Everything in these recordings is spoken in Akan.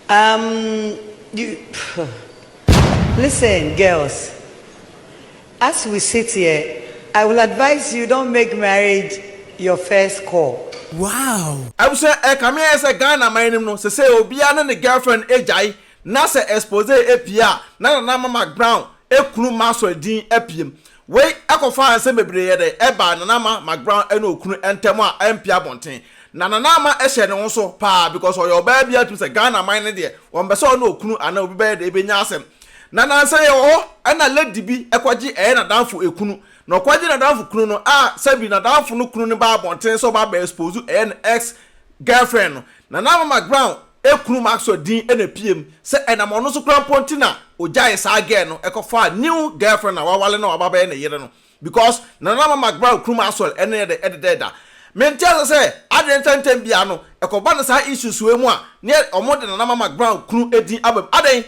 Um you pff listen girls as we sit here I will advise you don't make marriage your first call. Wow! Abusua ɛkame ayɛ sɛ Ghana man no mu no sesei obiara ne ne girlfriend agyae na sɛ expose pie a na Nana Mama Brown kunu Maxwell din apiem. Wei kɔfaa nsɛm bebree yɛ dɛ ɛbaa Nana Ama McBrown ne okunu ntam a ɛmpee abɔnten. Na Nana Ama hyɛɛ ne ho so paa because ɔyɛ ɔbaa biara tumi sɛ Ghana man no deɛ wɔmpɛ sɛ ɔne okunu anaa obi bɛyɛ dɛ bɛnya asɛm. Na nansa yi ɛwɔ hɔ ɛna lady bi kɔgye ɛyɛ n'adamfo kunu. Na ɔkɔgye n'adamfo kunu no a sɛbi n'adamfo no kunu no baa abɔnten sɛ ɔba abɛ expose ɛyɛ ne ex girlfriend no. Nana Ama McBrown Ekunu Maxwell din na epue mu, sɛ ɛnam ɔno nso koraa mpo nti na ogyaee saa girl no kɔfaa new girlfriend a wawale na waba abɛyɛ ne yere no because Nananama McBrown kunu Maxwell ne no yɛ dɛ da. Mente ase sɛ adɛn nti a ntɛm biara no ɛkɔba no saa issues wei mu a na wɔde Nananama McBrown kunu din aba mu. Adɛn?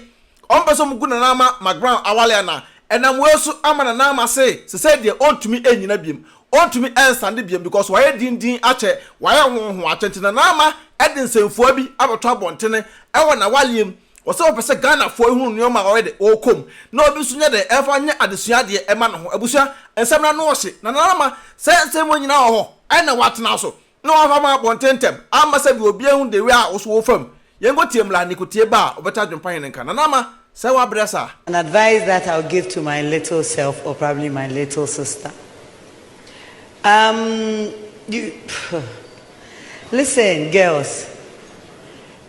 Ɔmpɛ sɛ wɔgu Nana Ama McBrown awale anaa? Ɛnam wei so ama Nana Ama se sesei deɛ ɔntumi nnyina biom. Ɔntumi nsande biom because wayɛ din din akyɛ, wayɛ hon hon akyɛ. Nti Nana Ama de nsɛmfua bi abɛto abɔntene wɔ n'awaleɛ mu. Ɔse ɔpɛ sɛ Ghanafoɔ nhunu nnoɔma a ɔyɛ dɛ ɔɔkɔ mu na obi nso nyɛ dɛ mfa nyɛ adesua adeɛ mma ne ho. Abusua, nsɛm no ano ɔhye. Nana Ama, sɛ nsɛm wei nyinaa wɔ hɔ, ɛnna woatena so. na wɔafa ma abɔnten ntɛm amma sɛdeɛ obi ahu de wɛ a wo so wɔ wo fam. Yɛnkɔ tie mmra ne kotie ba a ɔbɛto adwempa he no nka. Nana Ama, sɛɛ w'abrɛ saa? An advice that I'll give to my little self or probably my little sister um you pfff listen girls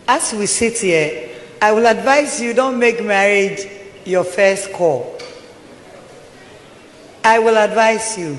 as we sit here I will advise you don't make marriage your first call I will advise you.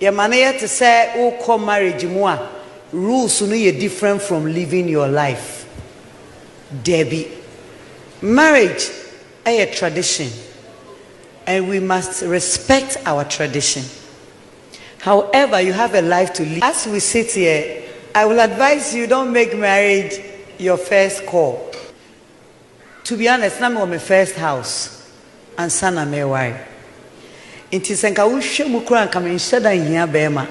Yɛma no yɛ te sɛ wokɔ marriage mu a rules no yɛ different from living your life. Dabi. Marriage yɛ tradition and we must respect our tradition. However, you have a life to live. As we sit here, I will advise you don't make marriage your first call. To be honest, na mewɔ me first house ansa na mereware. Nti sɛ nka wohwɛ mu koraa a nka menhyɛ da nhia barima.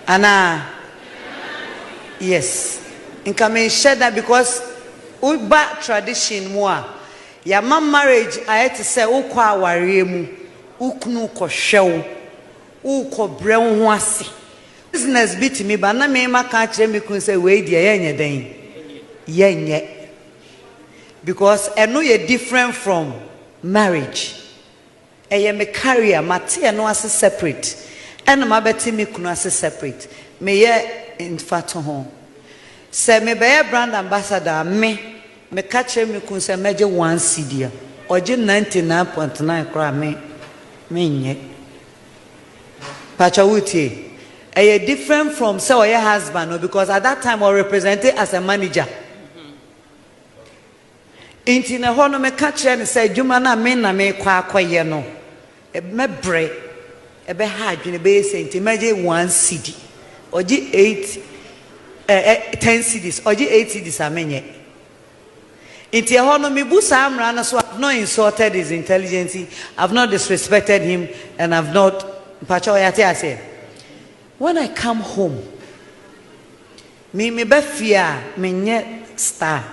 Anaa? Yes. Nka menhyɛ da because woba tradition mu a, yɛama marriage ayɛ te sɛ wokɔ awareɛ mu, wo kunu rekɔhwɛ wo, worekɔbrɛ wo ho ase. Business bi tumi ba na me maka akyerɛ me kunu sɛ wei deɛ yɛnyɛ dɛn? Yɛnyɛ. Because ɛno yɛ different from marriage. Ɛyɛ me career, mate ɛno ase separate ɛna mabɛte me kunu ase separate. Meyɛ mfatoho. Sɛ mebɛyɛ brand ambassador a, me, meka kyerɛ me kunu sɛ mɛgye one cedi a, ɔgye ninety nine point nine koraa a, me, menyɛ. Pakyɛw wo tie. Ɛyɛ different from sɛ ɔyɛ husband no because at that time ɔ represent as a manager. Nti no ɛhɔ no me ka kyerɛ no sɛ adwuma no a me na me kɔ akɔ yɛ no mɛbrɛ, ɛbɛ ha adwene, ɛbɛyɛ sɛ nti mɛgye one cedi. Ɔgye eight, eh, eh, ten cedis, ɔgye eight cedis a menyɛ. Nti ɛhɔ no mebu saa mmara no so, I've not insulted his intelligence, I've not disrespected him and I've not mpakyɛw yɛate aseɛ? When I come home, me meba fie a menyɛ star,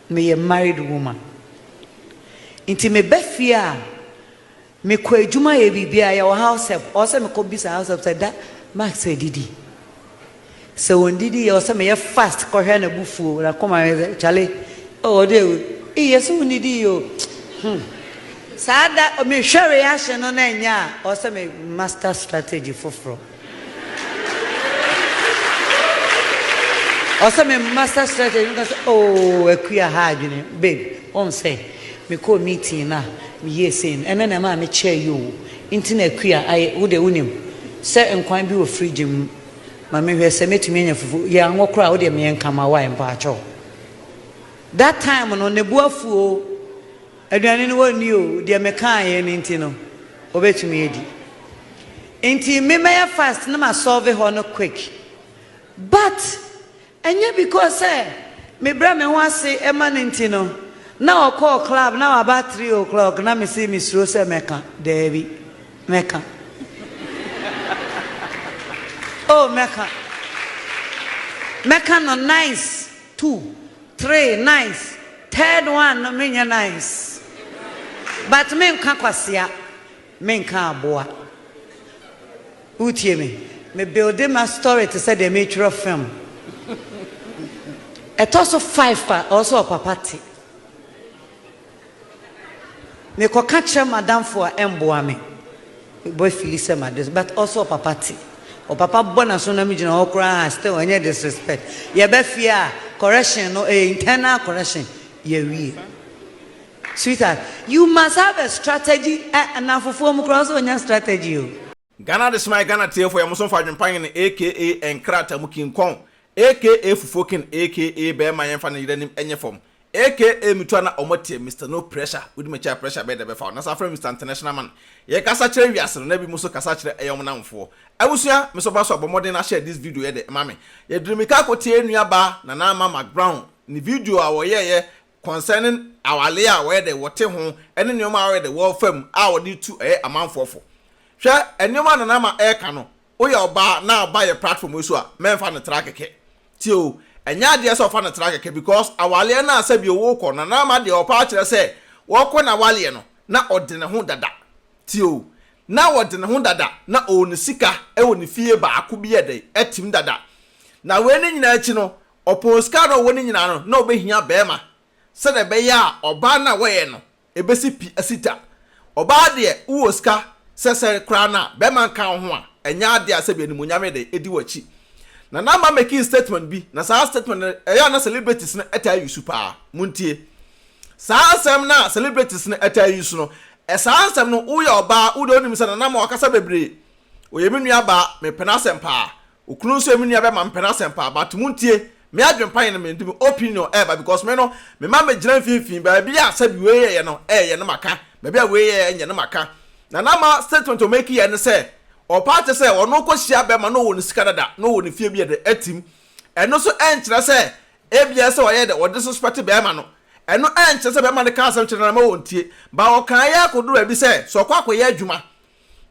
meyɛ married woman. Nti meba fie a Me kɔ adwuma yɛ biribi a yɛ wɔ house help ɔwɔ sɛ me kɔ bisa house help sɛ da Max adidi sɛ wɔn didi yɛ wɔ sɛ me yɛ fast kɔ hwɛ na bu fuo na kɔ ma me sɛ chale oh ɔde ewu ee yɛ sɛ wɔn didi yɛ o hmm saa da me hwɛ reaction no na ɛnyɛ a ɔwɔ sɛ me master strategy foforɔ. Ɔsɛ me master strategy me ka sɛ ooh Akua ha adwene babe wohu sɛ me kɔɔ meeting no a me yɛɛ sei no ɛno na ɛmaa me kyɛɛ yi oo nti na Akua ayɛ wo deɛ wonim sɛ nkwan bi wɔ fridge mu ma me hwɛ sɛ mɛtumi anya fufuo yɛ anwɔ koraa wo deɛ me yɛ nka ma wo a mpaatwɔ that time no ne bo afu oo. Aduane no wɔnni o, deɛ mekaeɛ no nti no wɔbɛtumi adi. Nti me mɛyɛ fast na ma solve hɔ no quick. But ɛnyɛ because sɛ mebrɛ me ho ase ma no nti no, na ɔkɔɔ club na waba three o'clock na mese mesuro sɛ mɛka. Daabi, mɛka. Oh mɛka. Mɛka no nice too. Three nice third one no menyɛ nice but menka kwasea menka aboa wotie me me builde ma story te sɛ deɛ meretwerɛ film ɛtɔ so five pa ɔwɔ sɛ ɔpapa te. Mekɔ ka kyerɛ madamfo a ɛmboa me. Mebɔ afili sɛ made so but ɔse ɔpapa te. Ɔpapa bɔ n'aso na megyina hɔ koraa a still ɛnyɛ disrespect. Yɛba fie a correction no ɛyɛ internal correction yɛwie. Sweetheart, you must have a strategy, ɛ, nnamfofoɔ mu koraa ɔsɛ ɔnya strategy o. Ghana Adesemai Ghana Tiefo yɛ mo so mfa adwempa nye no aka nkrataa mu king kɔn aka fufuo king aka bɛɛma yɛnfa ne yere anim nyɛ fam aka metu ana ɔmo teɛ Mister No Pressure wodi makyi a pressure bɛɛ da bɛfa wo na saa frɛ me Mister International Man yɛ kasa kyerɛ wiase no na ebi mo so kasa kyerɛ ɛyɛ ɔmo namfoɔ abusua me so ba so a bɔ mmɔden na share this video yɛ dɛ ma me yɛ diri mika kɔ tie nua baa Nana Ama Mac Brown ne video a ɔyɛɛyɛ concerning awale a wɔyɛ dɛ wɔte ho ɛne nnoɔma a wɔyɛ dɛ wɔfa mu a wɔde tu ɛyɛ amanfoɔ fo. Hwɛ nnoɔma a Nana Ama ɛreka no, woyɛ ɔbaa na ɔba yɛ platform yi so a, mɛnfa no tra kɛkɛ. Tie o, ɛnyɛ adeɛ sɛ ɔfa no tra kɛkɛ because awaleɛ no a sɛbio wokɔ, Nana Ama deɛ ɔpɛ akyerɛ sɛ wɔkɔ n'awaleɛ no na ɔde ne ho dada. Tie o, na ɔde ne ho dada na ɔwɔ ne sika ɛwɔ ne fie baako bi yɛ dɛ ɛtem dada. Na wei ne nyinaa akyi no, Ɔpoo sika na ɔwɔ no nyinaa no, na obehia barima, sɛdeɛ ɛbɛyɛ a ɔbaa no a wɔyɛ no, ebesi pi asi ta. Ɔbaa deɛ, wowɔ sika sɛsɛre koraa no a, barima nka wo ho a, ɛnyɛ adeɛ a sɛbi animuonyam yɛ dɛ edi w'akyi. Nana Ama makii statement bi, na saa statement no, ɛyɛ a na celebrities no taa use paa. Montie saa nsɛm no a celebrities no taa use no, saa nsɛm no, woyɛ ɔbaa, wo deɛ wonim sɛ Nana Ama wakasa bebree, ɔyɛ me nuabaa, mepɛ n'asɛm paa, Okunu nso emi nua bɛma me pɛn asɛm paa but mo ntie me adwen pa yɛn me de me opinion ɛɛba because me no me ma me gyina mfinfin baabi a sɛbi wei yɛyɛ no ɛɛyɛ no maka baabi a wei yɛyɛ ɛnyɛ no maka na na ma statement o make yɛ ne sɛ ɔpaa kyɛ sɛ ɔno kɔ hyia bɛma na ɔwɔ ne sika dada na ɔwɔ ne fie bi ɛde atim ɛno so ɛnkyerɛ sɛ ebia sɛ ɔyɛ dɛ ɔde suspect bɛma no ɛno ɛnkyerɛ sɛ bɛma no ka asɛm kyerɛ no na ma wɔntie ba ɔkaa yɛ akɔduru baabi sɛ sɛ ɔkɔ akɔyɛ adwuma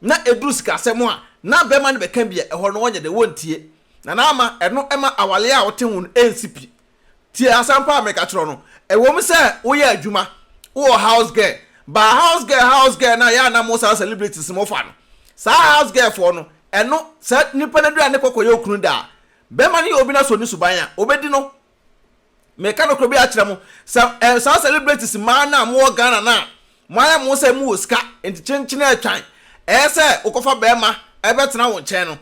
na ɛduru sikasɛm a, na bɛrima no bɛka bi a, ɛhɔ no wɔnyɛ dɛ, wɔntie. Na na ama ɛno ma awareɛ a wote ho no nsi pi. Tie asɛm pa a mereka kyerɛ wo no, ɛwɔ mu sɛ woyɛ adwuma, wowɔ house girl, but house girl house girl no a yɛ a na mo saa celebrities mo fa no, saa house girl foɔ no, ɛno, sɛ nipa no aduru a ne kɔkɔ yɛ okunu da a, bɛrima no yɛ obi na sɛ ɔni suban a, ɔbɛdi no. Meka nokorɛ bi akyerɛ mo, sɛ ɛyɛ saa celebrities mmaa no a mowɔ Ghana no a, moayɛ mo ho sɛ mowɔ sika nti kyenkyene atwan ɛyɛ sɛ wokɔfa barima bɛtena wo nkyɛn no,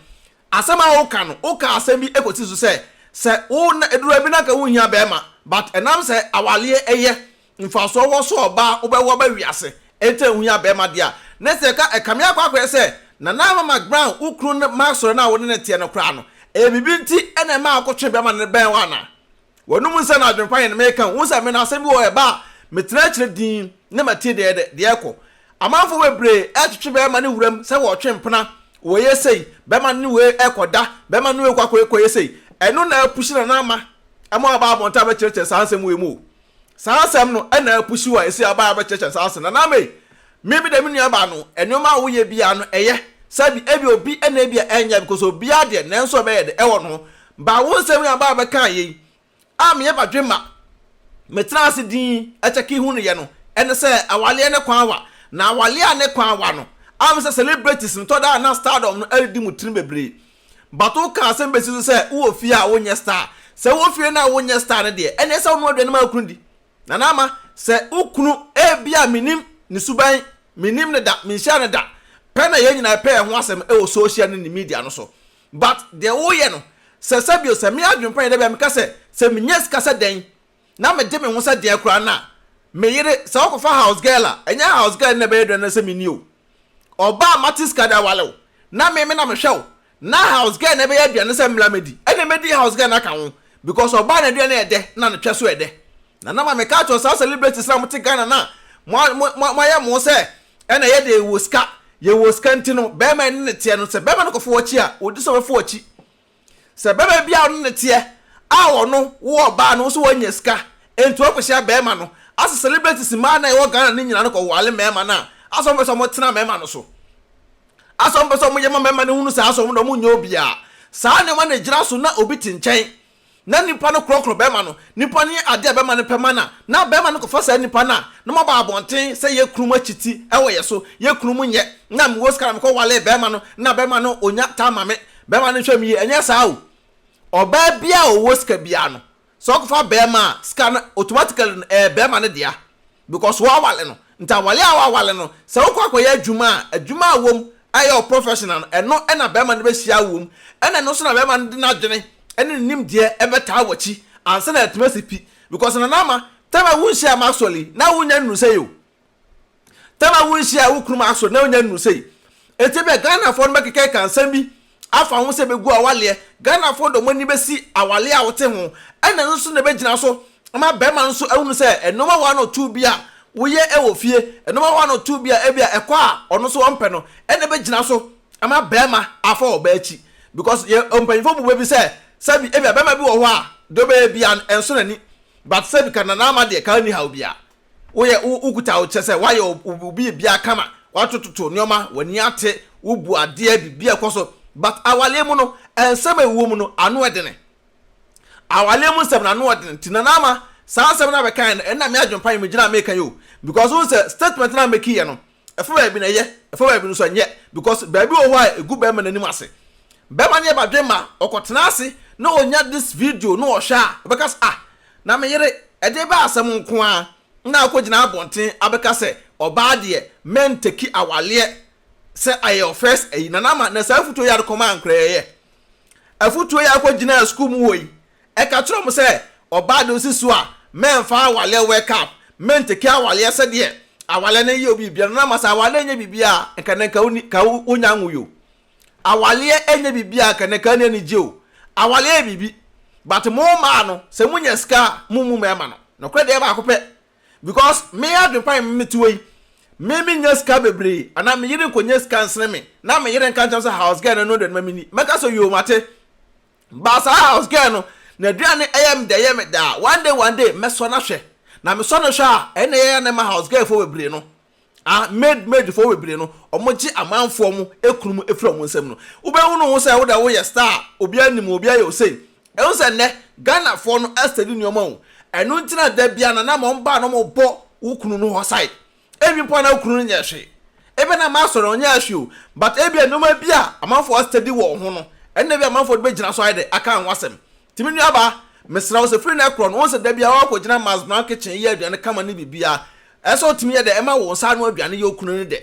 asɛm a woka no, wokaa asɛm bi kɔsi so sɛ, sɛ wo na, ɛduru baabi no anka wonhia barima but ɛnam sɛ awaleɛ yɛ Mfaso wɔ sɛ ɔbaa wobɛwo aba wiase enti ɛho hia bɛɛma deɛ a ne sɛ ka ɛkame akɔ akɔyɛ sɛ Nana Ama McBrown wo kunu no masɔre no a wone no teɛ no koraa no ɛyɛ biribi nti na ɛma wokɔ twe bɛɛma no bɛn wo anaa W'anom nsɛm no adwene pa yɛn meka wohu sɛ me no asɛm bi wɔ hɔ ɛba a metena akyire dinn na matie deɛ ɛdɛ deɛ ɛkɔ Amanfoɔ bebree ɛretwetwe bɛɛma no wuram sɛ wɔretwe mpena wɔyɛ sei bɛɛma no ne wei ɛkɔ da bɛɛma no ne wei kɔ akɔyɛ sei ɛno na apushi Nana Ama ma waba abɔnten abɛkyerɛkyerɛ saa nsɛm wei mu o. Saa asɛm no na apusuw a ese aba a ɛbɛkyerɛkyerɛ saa asɛm no. Anaa me, me me deɛ me nua baa no, nneɛma a woyɛ biara no ɛyɛ, sɛbi, ebia obi na ebia ɛnyɛ, because obiara deɛ nanso ɛbɛyɛ dɛ, ɛwɔ no ho. Baa wo nsɛm yi aba a bɛkaa yɛ yi, a meyɛ badwemma, metraa ase dinn kyɛkee hu no yɛ no, ɛne sɛ awaleɛ ne kwan awa, na awaleɛ a ne kwan awa no, am sɛ celebrities no tɔ da a na stardom no adidi mu tirim bebree, But wo ka asɛm bɛsi so sɛ wowɔ fie a wo nyɛ star. Sɛ wowɔ fie no a wo nyɛ star no deɛ, ɛneɛ sɛ wo noa aduane ma wo kunu di. Nana Ama, sɛ wo kunu, ebia menim ne suban, menim no da, menhyia no da, pɛ na yɛn nyinaa ɛpɛ yɛn ho asɛm ɛwɔ social ne ne media no so. But deɛ wo yɛ no, sɛ sɛbio sɛ me adwen pa yɛ da bi a meka sɛ, sɛ me nya sika sɛ dɛn, na me de me ho sɛ deɛ koraa na me yere sɛ ɔkɔ fa house girl a ɛnyɛ house girl na ɛbɛyɛ dɛn na sɛ me ni o ɔbaa a mate sika de awale wo na me me na me hwɛ wo na house girl na ɛbɛyɛ aduane sɛ mmla me di ɛne me di house girl na ka ho because ɔbaa na aduane ɛdɛ na ne twɛ so ɛdɛ na na ma me ka kyerɛ saa celebrities na mo te Ghana na mo mo mo ayɛ mo sɛ ɛna yɛ de yɛ wɔ sika yɛ wɔ sika nti no bɛrima ɛne ne teɛ no sɛ bɛrima no kɔ fo wɔkyi a odi sɛ ɔbɛfo wɔkyi Sɛ bɛma bi a ɔno ne teɛ a ɔno wo ɔbaa no wo so wanya sika nti wɔ kɔhyia bɛma no asɛ celebrities mmaa na ɛwɔ Ghana no nyina no kɔ wale mɛma no a asɛ ɔmo pɛsɛ ɔmo tena mɛma no so asɛ ɔmo pɛsɛ ɔmo yɛ ma mɛma no hunu sɛ asɛ ɔmo de ɔmo nyɛ obiaa saa nneɛma na ɛgyina so na obi te nkyɛn na nipa no korɔkorɔ bɛma no nipa no yɛ adeɛ a bɛma no pɛ ma na na bɛma no kɔfa saa nipa no a na moaba abɔnten sɛ yɛ kunu mu akyi ti ɛwɔ yɛ so yɛ kunu mu nyɛ na mewɔ sika na mekɔ wale bɛma no na bɛma no ɔnya taa ma me Bɛma no nhwɛ mu yie, ɛnyɛ saa o. Ɔbaa biara a ɔwɔ sika biara no, sɛ ɔkɔfa bɛɛma a, sika no automatically no ɛyɛ bɛɛma no dea because w'awale no. Nti awale a w'awale no, sɛ wokɔ akɔyɛ adwuma a, adwuma a wom a ɛyɛ wo professional no, ɛno na bɛɛma no bɛhyia wo wom. Ɛna ɛno nso na bɛɛma no de n'adwene ɛne ne nimdeɛ ɛbɛtaa w'akyi ansa na atumi asi pi. Because Nana Ama, time a wonhyiaa Maxwell yi, na wonnya nnuru sɛi o. Tama wo nhyia a wo kunu mu aso na onya nnuru sei. Enti ebia Ghanafoɔ no bɛkeka aka nsɛm bi afa ho sɛ bɛgu awaleɛ. Ghanafoɔ de wɔn ani bɛsi awaleɛ a wote ho ɛna ɛno so na ɛbɛgyina so ama barima no nso ahunu sɛ nnoɔma one or two bi a woyɛ wɔ fie, nnoɔma one or two bi a ebia ɛkɔ a ɔno nso ɔmpɛ no ɛna ɛbɛgyina so ama barima afa ɔbaa akyi. Because yɛ mpanyinfoɔ bu bɛ bi sɛ sɛbi ebia barima bi wɔ hɔ a deɛ ɔbɛyɛ biara no ɛnso n'ani but sɛbi ka nana ama deɛ ka nni haw biara. woyɛ wo wokuta wo kyɛ sɛ woayɛ wo biribiara kama watototo nneɛma w'ani ate wobu adeɛ biribiara kɔ so but awaleɛ mu no nsɛm a ɛwɔ mu no ano ɛdene awaleɛ mu nsɛm no ano ɛdene nti nana ama saa nsɛm no abɛkan no ɛna me adwempa yi megyina meka yi o because wo sɛ statement no a mɛkiyɛ no Ɛfa baabi na ɛyɛ, ɛfa baabi no nso ɛnyɛ because baabi wɔ hɔ a ɛgu bɛɛma no anim ase. Bɛɛma no yɛ badwemma, ɔkɔtena ase na ɔnya this video na ɔhwɛ a, ɔbɛka sɛ ah, na me yere, ɛdeɛ bɛyɛ asɛm nko ara na akɔgyina abɔnten abɛka sɛ ɔbaa deɛ mɛntɛki awaleɛ sɛ ayɛ your first ayi. Nana Ama, na saa afutuo yi ara de kɔmaa nkoraa yi ɛyɛ afutuo yi a akɔgyinaa sukuu mu hɔ yi Ɛka kyerɛɛ wɔn sɛ, Ɔbaa de osi so a, mɛmfa awaleɛ wɛ cup, menteke awaleɛ sɛdeɛ awaleɛ no yɛ obi biribiara no, na ama sɛ awaleɛ nyɛ biribiara a, nka na nka wonni, ka wonnya nwui o. Awaleɛ nyɛ biribiara a, nka na nka ani anigye o. Awaleɛ yɛ biribi, but mo mmaa no, sɛ monya sika a, mommu mmarima no. Nokorɛ deɛ baako pɛ, because me adwene pa me mete hɔ yi, me mennya sika bebree, anaa me yere nkɔnya sika nsene me, na me yere nka nkyerɛ me sɛ house girl no, ɛno deɛ no ma menni. Mɛka sɛ, Yoo, mate. But saa house girl no n'aduane yɛ me dɛ yɛ me dɛ a one day one day mɛsɔ no ahwɛ. Na mesɔ no hwɛ a ɛnna ɛyɛ a na ɛma house girl foɔ bebree no a maid maid foɔ bebree no wɔgye amanfoɔ mo kunu mu firi wɔn nsam no. Wobɛhunu ho sɛ wo dɛ woyɛ star a obiara nim wo obiara yɛ wo sei. Ɛhu sɛ nnɛ Ghanafoɔ no study nneɛma o. Ɛno nti na da biara no na ma wɔba a na wɔbɔ wo kunu no hɔ side. Ebi mpo a na wo kunu no nyɛ hwee. Ebia na ama asɔre no ɔnyɛɛ hwee o, but ebia nneɛma bi a amanfoɔ astudy wɔ wo ho no, ɛno na ebia amanfoɔ de bɛgyina so ayɛ dɛ aka wo ho asɛm. Nti me nuabaa, mesrɛ wo sɛ firi nnɛ korɔ no, wohu sɛ da biara woakɔgyina Mas Brown kitchen yɛ aduane kama ne biribiara, ɛyɛ sɛ wotumi yɛ dɛ ɛma wo nsa ano aduane yɛ wo kunu no dɛ.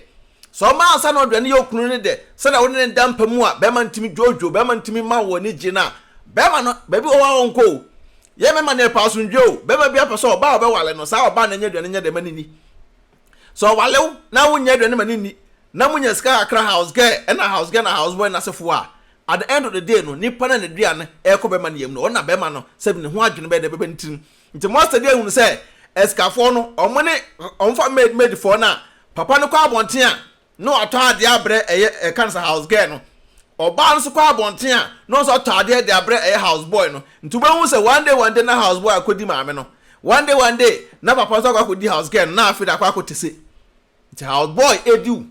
Sɛ woma wo nsa ano aduane yɛ wo kunu no dɛ sɛdeɛ wo ne no da mpa mu a, barima no tumi dwoodwoo, barima no tumi ma wo anigyeɛ no a, barima no, baabi wɔ hɔ a ɔnkɔ o. Yɛ me ma no yɛpɛ asomdwoe o. Bɛrima biara pɛ sɛ ɔbaa a ɔbɛwale no, saa ɔbaa no nyɛ aduane nyɛ dɛ ma no nni. Sɛ ɔwale wo na wonyɛ aduane ma no nni, na monya sika kakra house girl na house girl na house boy no asefoɔ a, at the end of the day no, nipa no a n'aduane ɛrekɔ bɛrima no yam no, ɔno na bɛrima no sɛbi ne ho adwene bɛyɛ dɛ bɛba ne tirim. Nti mo astudy ahunu sɛ asikafoɔ no, ɔmo ne, ɔmo fa maid maid foɔ no a, papa no kɔ abɔnten a, Na ɔtɔ adeɛ abrɛ ɛyɛ ɛka no sɛ house girl no. Ɔbaa no nso kɔ abɔnten a, na ɔno nso ɔtɔ adeɛ de abrɛ ɛyɛ house boy no. Nti wobɛhu sɛ one day one day na house boy akɔdi maame no. One day one day na papa nso akɔ akɔdi house girl no, na afei de akɔ akɔte se. Nti house boy di wo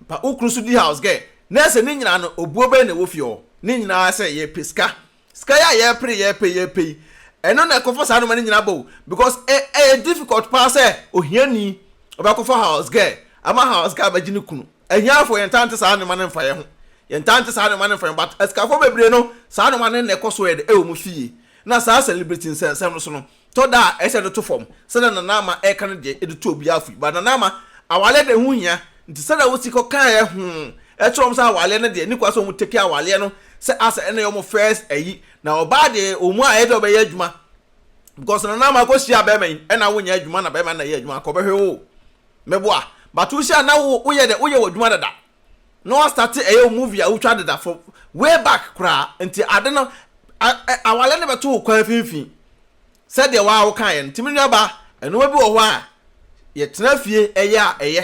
pa, wo kunu nso di house girl. Na ɛsɛ ne nyinaa no, obuo bɛn na ɛwɔ fie hɔ? Ne nyinaa sɛ yɛpɛ sika. Sika yi a yɛpere yɛpɛ yɛpɛ yi ɛno na ɛkɔfa saa nneɛma no nyinaa ba o because ɛ ɛyɛ difficult paa sɛ ohiani ɔbɛkɔfa house girl ama house girl abɛgye ne kunu ahiafoɔ yɛn ntaa nte saa nneɛma no mfa yɛn ho yɛn ntaa nte saa nneɛma no mfa yɛn ho but asikafoɔ bebree no saa nneɛma no na ɛkɔ so yɛ de ɛwɔ wɔn fie na saa celebrity nsɛnsɛm no so no Tɔ da a, ɛsɛ sɛ ɛno to fam. Sɛnea Nana Ama reka no deɛ, ɛde tu obiara fo. But Nana Ama, awaleɛ deɛ ɛho hia. Nti sɛdeɛ wosi kɔkaeɛ ho kyerɛ wɔn sɛ awaleɛ no deɛ, ɛnni kwan sɛ wɔn take awaleɛ no sɛ as ɛna ɛyɛ wɔn first ayi. Na ɔbaa deɛ, wɔn a ɛyɛ dɛ wɔbɛyɛ adwuma. Because Nana Ama kɔhyiaa barima yi, ɛna wonyɛ adwuma na barima no na ɛyɛ adwuma, anka ɔbɛhwe wo. Mɛboa. But wohyiaa no na wo, woyɛ dɛ, woyɛ w'adwuma dada. na wa starte ɛyɛ wo movie a wo twa deda fo way back koraa nti ade no awale no bɛto wo kwan finfin sɛdeɛ waa wo kaeɛ no nti me nua baa ɛnoɔma bi wɔ hɔ a yɛ tena fie ɛyɛ a ɛyɛ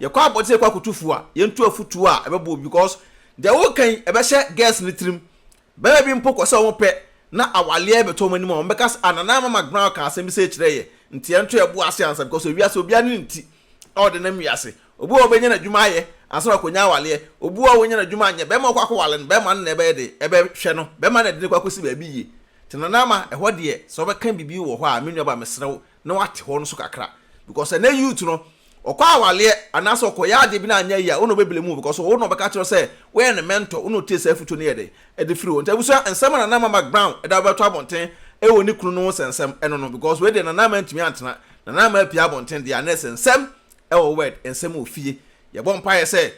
yɛ kɔ abɔte yɛ kɔ akoto fuo a yɛ ntu afutuo a ɛbɛbɔ obi because deɛ wo kan ɛbɛhyɛ girls no tirim Bɛma bi mpo kɔ sɛ ɔmo pɛ na awaleɛ bɛtɔ ɔmo anim a ɔmo bɛka sɛ ah Nana Mama Brown kaa asɛm bi sei kyerɛɛ yɛ nti yɛn nto yɛbo ase ansa because ewiase obiara ne ne ti a ɔde nam wiase obi wɔ hɔ ɔbɛnya n'adwuma ayɛ ansa na wakonya awaleɛ obi wɔ hɔ ɔnya n'adwuma anyɛ bɛma ɔkɔ akɔ wale no bɛma no na ɛbɛyɛ de ɛbɛ hwɛ no bɛma na ɛde no kɔ akɔsi baabi yie nti Nana Ama ɛhɔ deɛ sɛ ɔbɛka biribi wɔ hɔ a me nua ba mesrɛ wo na wate hɔ no so kakra because ɛnɛ youth no ɔkɔ awaleɛ anaasɛ ɔkɔyɛ adeɛ bi na anyɛ yie a wo na ɔbɛbile mu because ɔwo na ɔbɛka kyerɛ sɛ woyɛ ne mentor wo na ɔtie saa afutuo no yɛ dɛn ɛde firi hɔ nti abusua nsɛm a Nana Ama McBrown ɛda bɛbɛto abɔnten ɛwɔ ne kunu no ho sɛ nsɛm ɛno no because wei deɛ Nana Ama antumi antena Nana Ama apue abɔnten deɛ a na ɛsɛ nsɛm ɛwɔ word nsɛm wɔ fie yɛbɔ mpaeɛ sɛ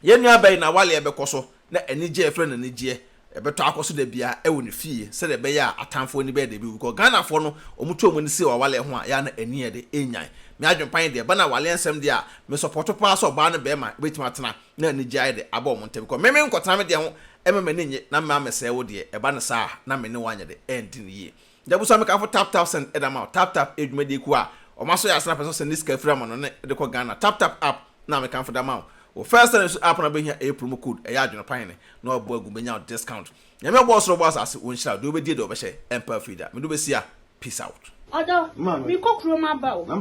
Yɛn nuabɛn Nawalea bɛkɔ so na anigye a yɛfrɛ no anigyeɛ bɛtɔ akɔ so da biara wɔ ne fie sɛdeɛ ɛbɛyɛ a atamfoɔ ani bɛyɛ dɛ bɛwu because Ghanafoɔ no wɔn tu wɔn ani si wɔ Awalea ho a yɛ a na ani yɛ dɛ ɛnyan me adwene pa ne deɛ ɛba Nawalea nsɛm deɛ a me sɔpɔto paa sɛ ɔbaa ne barima bɛtumi atena na anigyeɛ ayɛ dɛ aba wɔn ntam because me menkɔtena me deɛ ho mma m'ani nnye na mma mɛsɛe wo deɛ ɛba no saa a na me ne wo anyɛ dɛ ɛndi no yie. Da bi so a mekamfo Tap Tap Send de ama wo. Tap Tap yɛ dwumadie kuo a wɔn asɔ yɛ ase na pɛ sɛ ɔsend ne sika firi amano ne de kɔ Ghana. Tap Tap App na mekamfo de ama wo. Wo first send nso app no a wobɛhia ɛyɛ promo code ɛyɛ adwenepan ne na wabɔ agu bɛnya wo discount. Nyame a ɔbɔɔ soro ɔbɔɔ asase wo nhyira wo deɛ wobɛdie deɛ wɔbɛhyɛ ɛmpa afiri da. Mede wobɛsi a peace out. Ɔdɔ, me kɔ kurom aba o. Me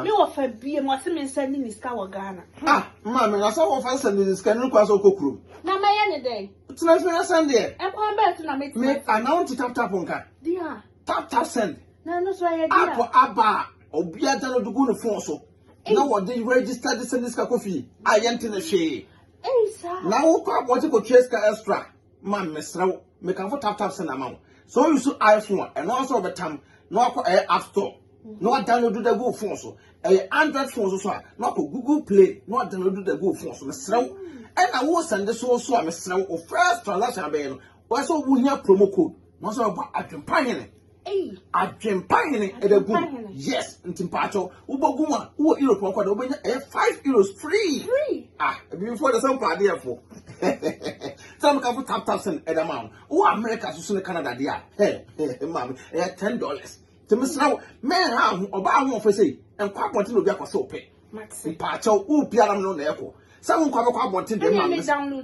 wɔ fa biem, ɔse me nsɛnde ne sika wɔ Ghana. Ah! Maame, na sɛ wo fa sɛnde ne sika no, ne kwan sɛ wo kɔ kurom? Na mɛyɛ ne dɛn? Tena ase na send deɛ. Ɛkwan bɛyɛ so na me tena. Me ana wɔn ti tap tap nka. Dia. Tap tap send. Na ɛno so ɛyɛ dia. App aba a obi agya no de gu ne phone so. Na wɔde register de send sika kɔ fie a yɛn ti ne hwee. Ɛyi saa. Na wokɔ abɔnten kɔ tua sika extra ma mesrɛ wo mekamfo tap tap send ama wo. So you so iPhone ɛno asɔ ɔbɛtam na wakɔ ɛyɛ app store. na wadownload da gu wo phone so ɛyɛ android phone so so a na wakɔ google play na wadownload da gu wo phone so mesrɛ wo ɛna wo sɛnde so so a mesrɛ wo wo first transaction abɛyɛ no wɔyɛ sɛ wohia promo code na wɔsɛ wɔbɔ adwempa hene adwempa hene ɛda gu mu yes nti mpaakyɛw wobɔ gu mu a wowɔ europe ɔkɔ dɛ wobɛnya ɛyɛ five euros free ah ebibifoɔ de sɛ mpaadeɛfoɔ sɛ meka fo tap tap sɛn ɛda ma wo wowɔ america so so ne canada deɛ a ɛ ɛ maame ɛyɛ ten dollars Te mesra wo, men ha ho, ɔba aho ɔfɛ sei, nkɔ abɔnten na obi akɔ sɛ ɔpɛ. Mpaakyɛw, wo pia na mene na ɛkɔ. Sɛ wo nkɔ abɛkɔ abɔnten deɛ ma me.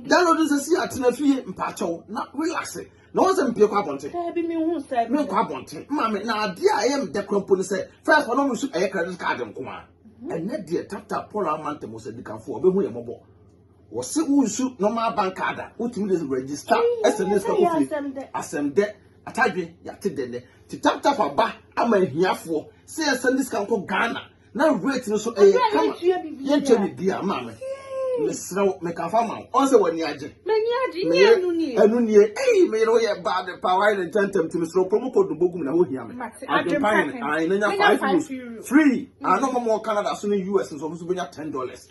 Download nsɛ si atena fie, mpaakyɛw, na relax. Na wɔn sɛ mpie kɔ abɔnten. Daabi me hu sɛ. Me nkɔ abɔnten, ma me, na adeɛ a ɛyɛ me dɛ kora mpo ne sɛ, first ɔno nso ɛyɛ credit card nko a. Ɛnɛ deɛ tap tap Paul Amantam ɔsadikanfoɔ, ɔbɛhu yɛ mmɔbɔ. Wɔse wo nsu normal bank card a wotumi de register ɛsɛ ne sika kofie asɛm dɛ atadwe yɛate dɛ nɛ ti tap tap aba ama ahiafoɔ sɛ yɛsɛ ne sika nkɔ Ghana na rate no so ɛyɛ kama yɛnkyɛ bibia maame mesrɛ wo mekafa ma wo ɔnsɛ w'ani agye meyɛ ɛno nie ei meyere wo yɛ bad pa wayɛ ne ntɛntɛm ti mesrɛ wo promo code no bɔgu mu na wohia me adwempa yɛ ne ae na nya 5 euros free ano mɔmɔ Canada so ne US nso ɔmo so bɛnya 10 dollars